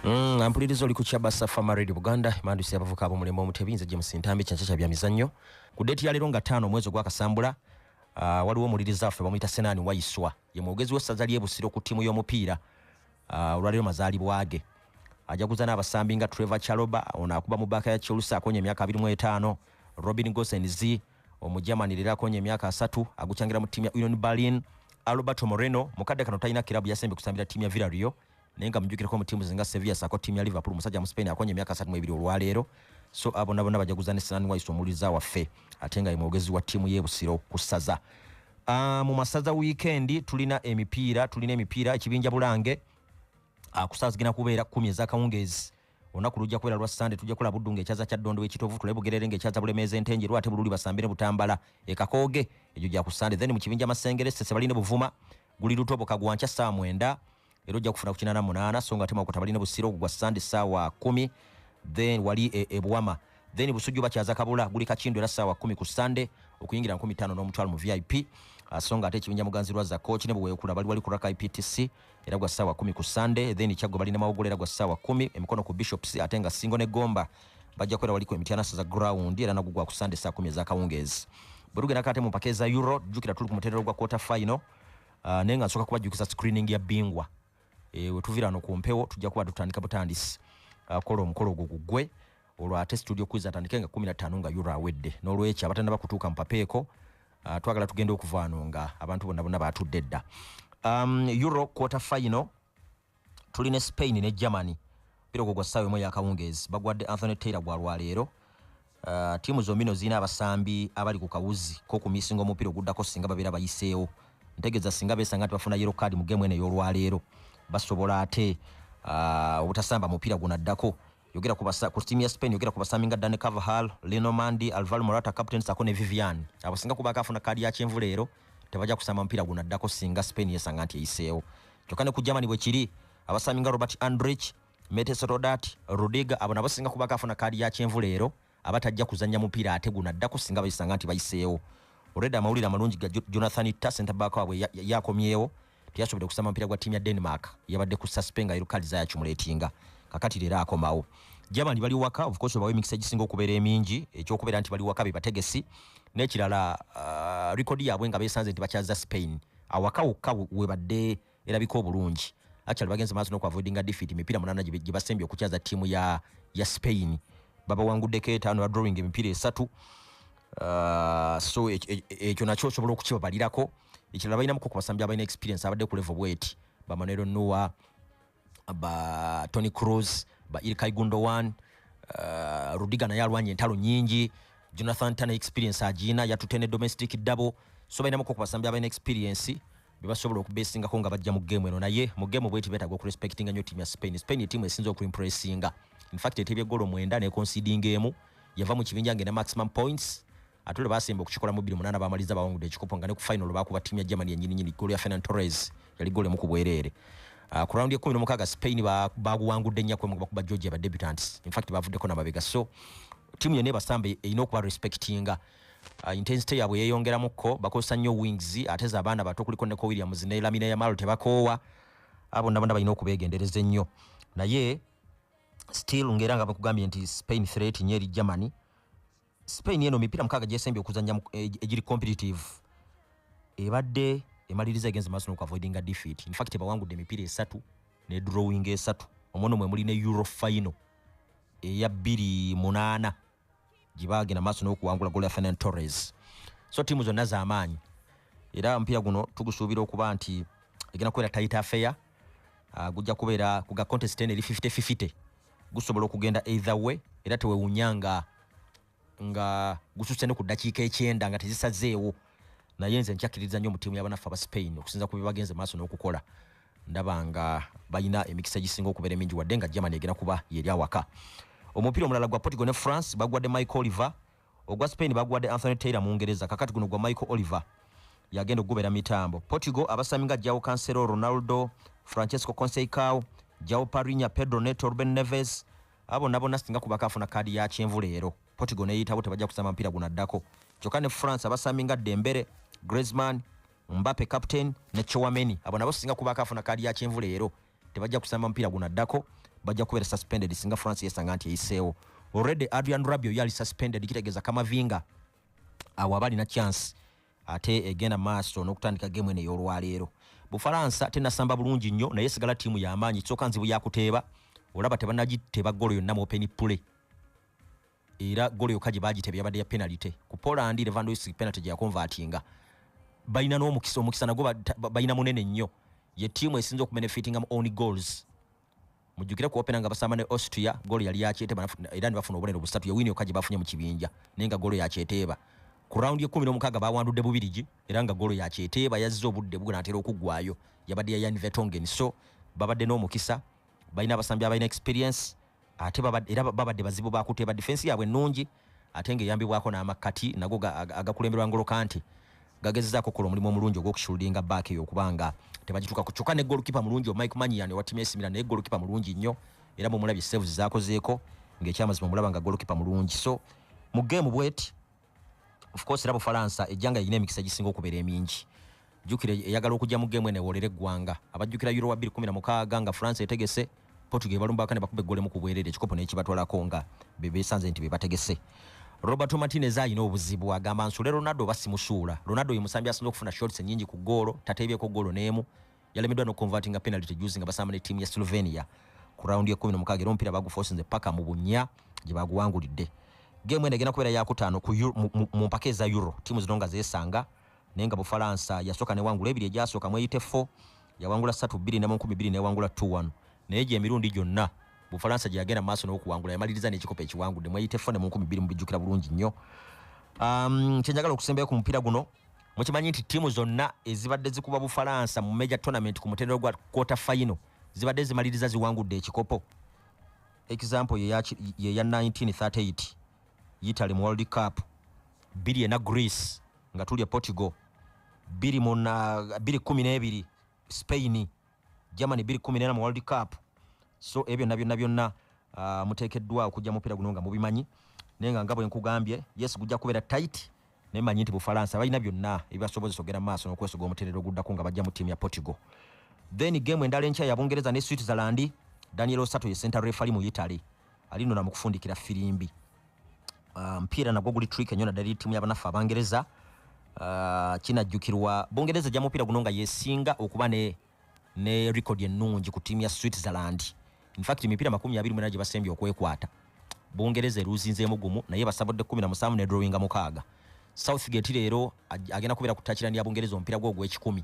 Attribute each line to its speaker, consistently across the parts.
Speaker 1: Mm, ampuliriza oli ku kyabasa famaredi buganda emandusi abavuka abomulembe omutebi nze james ntambi kyankya kya bya mizannyo ku deeti ya leero nga taano omwezi ogwakasambula uh, waliwo omuwuliriza waffe bamuyita senaani wayiswa ye mwogezi w'essaza ly'ebusiro ku ttiimu y'omupiira uh, olwaleero mazaalibwa ge ajaguza n'abasambi nga trevor chaloba ono akuba mu baaka ya chelsea akonya emyaka 25 robin gosens omujamani leero akonya emyaka asatu agucangira mu ttiimu ya union berlin alberto moreno mukadde kano talina kirabu yasembye kusambira ttiimu ya villario naye nga mujukireko mu tiimu zinga sevilla saako tiimu ya liverpool musajja mu spain akonye emyaka asatu mu ebiri olwaleero so abona bona bajaguza ne sinan wise omuwuliriza waffe ate nga ye mwogezi wa tiimu y'ebusiro ku ssaza ah, mu masaza wiikendi tulina emipiira tulina emipiira ekibinja bulange ah, kusaaza zigenda kubeera kumi ezakawungeezi olunaku lujja kubeera lwa sande tujja kukola buddu ngaekyaza kya ddondo wekitovu tulabe bugerere ngaekyaza bulemeeza entenje lwate bululi basambire butambala ekakooge egyo gya ku sande then mu kibinja masengere sese balina buvuma guli lutoboka gwa nkya ssaawa mwenda era ojja kufuna ku kinaana munaana so nga ate mawokota bali ne busiro gwa sande ssaawa kumi then wali e, ebuwama then busujju bakyaza kabula guli kakindo era ssaawa kumi ku sande okuyingira nkumi ttaano n'omutwalo mu vip ah, so nga ate ekibinja muganzi lwa zakoki ne bweweekula bali wali ku raka iptc era gwa ssaawa kumi ku sande then kyaggwe bali ne mawogolo era gwa ssaawa kumi emikono ku bishops ate nga singo ne gomba bajja kubeera wali ku emityana saza ground era nagugwa ku sande saa kumi ezakawungeezi bwe tugenda kate mu mpaka eza euro jjukira tuli ku mutendero gwa quarter final uh, naye nga nsooka kubajjukiza screening ya bingwa e, eh, wetuvira no ku mpewo tujja kuba tutandika butandisi uh, kola omukolo ogwo gugwe olwo ate studio kwiza atandike nga kumi na ttaano nga euro awedde n'olwekyo abatanaba kutuuka mupapeeko uh, twagala tugenda okuvaano nga abantu bonna bonna batudde dda um, euro quarter final tuli ne spain ne germany mpira ogwo gwa ssaawa emu eyakawungeezi bagwadde anthony taylor gwa lwaleero uh, tiimu zombi no zirina abasambi abali ku kawuzi kokumisinga omupiira oguddako singa babeera bayiseewo ntegeeza singa besanga nti bafuna yero kaadi mu gemu eno ey'olwaleero basobola ate uh, obutasamba mupiira gunaddako yogera ku basa ku timu ya Spain yogera ku basami nga Dani Carvajal, Lino Mandi, Alvaro Morata captain sako ne Vivian. Abo singa kuba kafuna kadi ya kyenvu leero tebaja kusama mpira guna dako singa Spain yesanga nti eyiseewo. Kyokka ne ku Germany bwe kiri abasami nga Robert Andrich, Metes Rodat, Rudiger abo nabo singa kuba kafuna kadi ya kyenvu leero aba tajja kuzannya mupiira ate guno addako singa bayisanga nti bayiseewo olwedda amawulire amalungi ga jonathan ta sentabaaka waabwe yakomyewo teyasobodde kusamba mupiira gwa ttiimu ya denmark yabadde ku saspe nga erukali zayakimulaetinga kakati leero akomawo jabandi bali waka ofcourse bawa emikisa egisinga okubeera emingi ekyokubeera nti bali waka bebategesi n'ekirala uh, rekodi yaabwe nga besanze nti bakyaza spain awaka wokka webadde erabika obulungi actually bagenze maaso nokuavoidinga defeat emipiira munana gye basembye okukyaza ttiimu ya, ya spain babawanguddeko etaano badrawing emipiira esatu uh, so e, e, e, ekyo nakyo osobola okukibabalirako ekirala balinamuko ku basambi abalina experience abadde ku level bweti bamanero noa ba tony cruz ba ilkai gundowan uh, rudiga naye alwanye entalo nyingi jonathan tana experience agiina yatute ne domestic double so balinamuko ku basambi abalina experience bebasobola okubesingako nga bajja mu game eno naye mu game bweti betaga okurespectinga nyo timu ya spain spain timu esinza okuimpressinga infact etebye golo mwenda nekonsidinga emu yava mu kibinja ngena maximum points atule basemba okukikola mu biri munana bamaliza bawangudde ekikopo nga ne ku final bakuba timu ya germany yenyini nyini golo ya fenan torres yali golo emu ku bwereere Uh, ku raundi ekumi nomukaga spain baguwangudde nyako emu bakuba georgia ba debutants infact bavuddeko namabega so timu yona ebasamba erina okuba respectinga Uh, intensity yabwe yeyongeramu ko bakozesa nnyo wings ate za abaana bato kuliko ne ko williams ne lamina yamalo tebakoowa abo nabona balina okubeegendereza ennyo naye still ngaera nga bakugambye nti spain threat nyo eri germany spain eno mipiira mukaaga gyesembye okuzanya eh, egiri competitive ebadde emaliriza egenze maaso nokuavoidinga defeat infact ebawangudde emipiira esatu ne drawing esatu omwono mwe muli ne euro final eya 2 munaana gyebaagenda maaso n'okuwangula golafenan torres so tiimu zonna z'amaanyi era omupiira guno tugusuubira okuba nti egenda kubeera tayita afeya uh, gujja kubeera kuga contest eno eri 5050 gusobola okugenda either way era tewewunya nga nga gususe ne ku ddakiika ekyenda nga tezisazeewo naye nze nkyakiririza nnyo mu tiimu yabanaffe aba spain okusinza ku byebagenze maaso n'okukola ndaba nga balina emikisa egisinga okubeera emingi wadde nga germany egenda kuba yeri awaka omupiira omulala gwa portugal ne france bagwadde michael oliver ogwa spain bagwadde anthony taylor mu ngereza kakati guno gwa michael oliver yagenda okugubeera mitambo portugal abasami nga jao cancelo ronaldo francesco conseicao jao parinya pedro neto ruben neves abo nabona singa kubakaafuna kaadi ya kyenvu leero Portugal neyitabo tebajja kusamba mpira guno addako kyokka ne France abasambi nga Dembele Griezmann Mbappe captain ne Chouameni abo nabo singa kuba akafuna kaadi ya kyenvu leero tebajja kusamba mpira guno addako bajja kubeera suspended singa France yesanga nti eyiseewo already Adrian Rabiot yali suspended kitegeeza Kamavinga awo aba alina chance ate egenda maaso n'okutandika gemu eno ey'olwaleero bufalansa tenasamba bulungi nnyo naye sigala ttiimu y'amaanyi kyoka nzibu yakuteeba olaba tebanagiteba golo yonna mu open play era golo yokka gye baagitebya yabadde ya penalite ku poland levandois penalty gye yakonvatinga balina n'omukisa omukisa nagwo balina munene nnyo ye tiimu esinza okubenefitinga mu on goals mujjukire ku opena nga basamba ne austria golo yali yakyeteeba era ne bafuna obubonero busatu yewini yokka gye bafunye mu kibinja naye nga golo yakyeteeba ku rawundi ekumi n'omukaaga bawandudde bubirigi era nga golo yakyeteeba yazze obudde bugunatera okuggwayo yabadde ya yan vetongen so babadde n'omukisa balina abasambi abalina experience ate babadde era babadde bazibu bakuteba defense yabwe nungi ate nga eyambibwako n'amakkati nago agakulemberwa ngolo kanti gagezezaako okukola omulimu omulungi ogw'okushooldinga back eyo okuba nga tebagituukako kyokka ne golukipa mulungi omike manyian owa timu esimira naye golukipa mulungi nnyo era bwemulabye saves zakozeeko ng'ekyamazima omulaba nga golukipa mulungi so mu geemu bweti of course era bufalansa ejjanga yalina emikisa egisinga okubeera emingi jukira eyagala okujja mu gemu enewolera eggwanga abajjukira euro wa 216 nga france etegese portugal balumbaka ne bakuba eggolemu ku bwerere ekikopo nekibatwalako nga bebesanze nti bebategese roberto martinez alina obuzibu agamba nsule ronaldo oba simusuula ronaldo ye musambi asinza okufuna shots enyingi ku goolo tateebyeko goolo n'emu yalemeddwa nokukonvatinga penalty juzi nga basamba ne ttiimu ya slovenia ku rawundi ekumi nomukaaga era omupiira bagufosinze paka mu bunya gye baguwangulidde geemu eno egenda kubeera yakutaano mu mpaka eza euro ttiimu zino nga zeesanga naye nga bufalansa yasooka newangula ebiri egyasooka mweyite fo yawangula satu bbiri ne mu nkumi bbiri newangula t one naye gye emirundi gyonna bufalansa gye yagenda maaso n'okuwangula yamaliriza n'ekikopo ekiwangudde mweyite fo ne mu nkumi bbiri mubijjukira bulungi nnyo um, kyenjagala okusembayo ku mupiira guno mukimanyi nti ttiimu zonna ezibadde zikuba bufalansa mu major tournament ku mutendero gwa quarter final zibadde zimaliriza ziwangudde ekikopo example yeya 1938 yitale mu world cup biri ena greece nga tuli e portugal biri muna biri kumi n'ebiri spain germany 214 mu world cup so ebyo byonna byonna byonna uh, muteekeddwa okujja mupiira guno nga mubimanyi naye nga nga bwe nkugambye yes gujja kubeera tight naye manyi nti bufalansa balina byonna ebibasobozesa ogenda maaso n'okwesoga omuterero oguddako nga bajja mu ttiimu ya portugal then game endala enkya ya bungereza ne switzerland daniel osato ye center refali mu italy alinona mu kufundikira firimbi ah, mpiira nagwo guli trick enyo naddala eri ttiimu yabanaffe abangereza ah, kinajjukirwa bungereza ja mupiira guno nga yesinga okuba ne ne record ennungi ku ttiimu ya switzerland infact emipiira makumi abiri mwena gye basembye okwekwata bungereza eruuzinzeemu gumu naye basabudde kumi na musanvu ne drawinga mukaaga southgate leero agenda kubeera ku takirani ya bungereza omupiira gwe ogw'ekikumi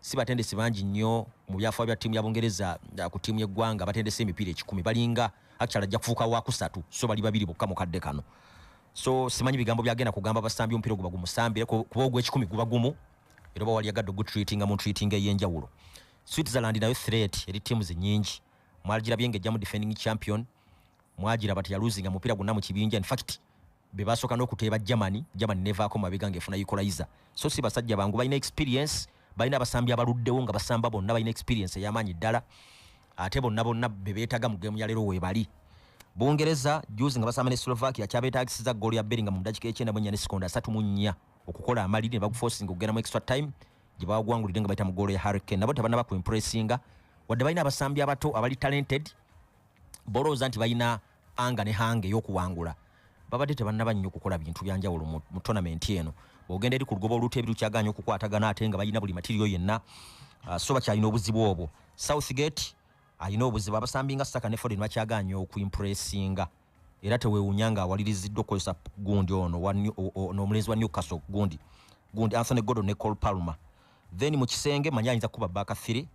Speaker 1: si batendesi bangi nnyo mu byafaa bya ttiimu ya bungereza ah, ku ttiimu y'eggwanga batendesa emipiira ekikumi balinga actually ajja kufuuka wakusatu so bali babiri bokka mu kadde kano so simanyi bigambo byagenda kugamba basambi omupiira guba gumusambire kuba ogwekikumi guba gumu era oba waliyagadde ogutreatinga mu treatinga ey'enjawulo switzerland nayo threat eri tiimu zinyingi mwagirabye nga ejjamu defending champion mwagira bati yaluzinga mupiira gwonna mu kibinja infact be basooka n'okuteeba germany germany nevaako mabega nga efuna equalizer so si basajja bangu balina experience balina abasambi abaluddewo nga basamba bonna balina experience ey'amaanyi ddala ate bonna bonna be beetaga mu geemu ya leero weebali bungereza juzi nga basamba ne slovakia kyabetagisiza ggoolo ya beringa mu mudakika ekyenda mu ennya ne sekonda asatu mu nnya okukola amaliri ne bagufosinga okugenda mu extra time gye bawagwangulidde nga bayita mu ggoolo ya hurricane nabo tebanaba ku impressinga wadde balina abasambi abato abali talented bolowooza nti balina anga ne hanga eyokuwangula babadde tebannaba nnyo okukola bintu byanjawulo mu tonamenti eno bwogenda eri ku lugoba oluteebi lukyaganya okukwatagana ate nga balina buli matiriyo yenna uh, so bakyalina obuzibu obwo southgate alina obuzibu abasambi nga saka ne foden bakyaganya okuimpressinga era tewewunya nga awaliriziddwa okukozesa gundi ono n'omulenzi wa newcastle gundi gundi anthony gordon ne col palmer then mu kisenge manyi ayinza kukuba baaka thiri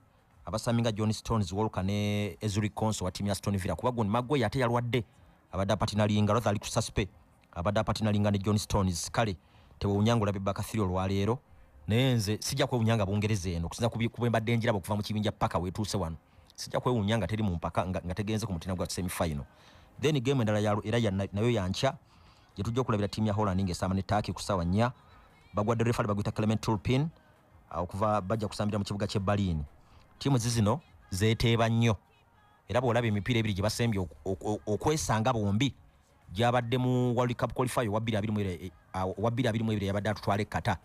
Speaker 1: Abasambi nga John Stones, Walker ne Ezuri Konso wa timu ya Aston Villa kuba gundi Maguire ate yalwadde abadde apatinalinga lwathe ali ku suspe abadde apatinalinga ne John Stones kale tewewunya ng'olabye Bakasiri olwaleero naye nze sijja kwewunya nga Bungereza eno okusinza ku bwe mbadde njiraba okuva mu kibinja paka weetuuse wano sijja kwewunya nga teri mu mpaka nga tegenze ku mutina gwa semi final then game endala ya era ya nayo yankya gye tujja okulabira tiimu ya Holland ng'esaama ne Turkey ku ssaawa nnya bagwadde refali baguyita Clement Turpin okuva bajja kusambira mu kibuga kye Berlin tiimu zizino zeteeba nnyo era bw'olaba emipiira ebiri gye basembye okwesanga bombi gyabadde mu world cup qualifier wa 221 eh, yabadde atutwala ekkata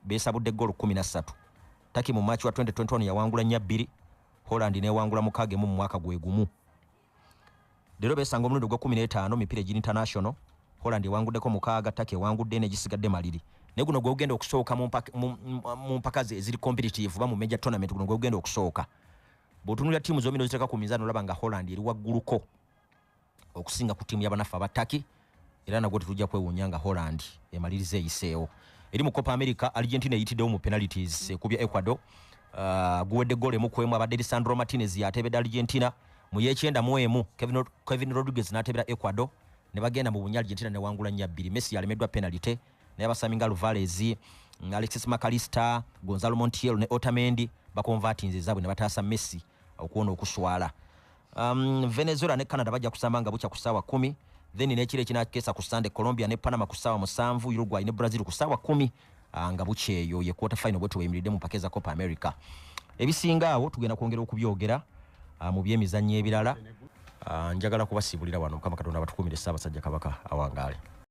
Speaker 1: beesabudde ggoolo 13 taki mu match wa 2021 yawangula nya bbiri holland newangula mukagemu mu mwaka gwe gumu leero beesanga omulundi ogwa kumi n'etaano mipiira egiri international holland ewanguddeko mukaaga taka ewangudde negisigadde maliri naye guno gwegugenda okusooka mu mpaka ze eziri competitive oba mu major tournament guno gwegugenda okusooka bwotunulira tiimu zombi noziteeka ku mizaani olaba nga holland eri wagguluko okusinga ku tiimu yabanaffe abataki era nagwo tetujja kwewuunya nga holland emaliriza eyiseewo eri mu copa america argentina eyitiddewo mu penalties ekubya ecuador uh, guwedde goolo emu ku emu abadde lisandro martinez yatebedde argentina mu yekyenda mu emu kevin, kevin rodriguez n'atebera ecuador ne bagenda mu bunya argentina newangula nya bbiri messi yalemeddwa penalite naye abasami nga luvalez mm, alexis macalister gonzalo montiel ne otamendi bakonvatinze ezaabwe ne bataasa messi okuwona okuswala Um, Venezuela ne Canada bajja kusamba nga bukya ku ssaawa kumi then n'ekiro ekinakeesa ku Sunday Colombia ne Panama ku ssaawa musanvu Uruguay ne Brazil ku ssaawa kumi ah, nga bukya eyo ye quarter final bwe tuweyimiridde mu mpaka eza Copa America ebisinga awo tugenda kwongera okubyogera ah, mu byemizannyo ebirala ah, njagala kubasiibulira wano mukama katonda abatukumire ssaabasajja kabaka awangaale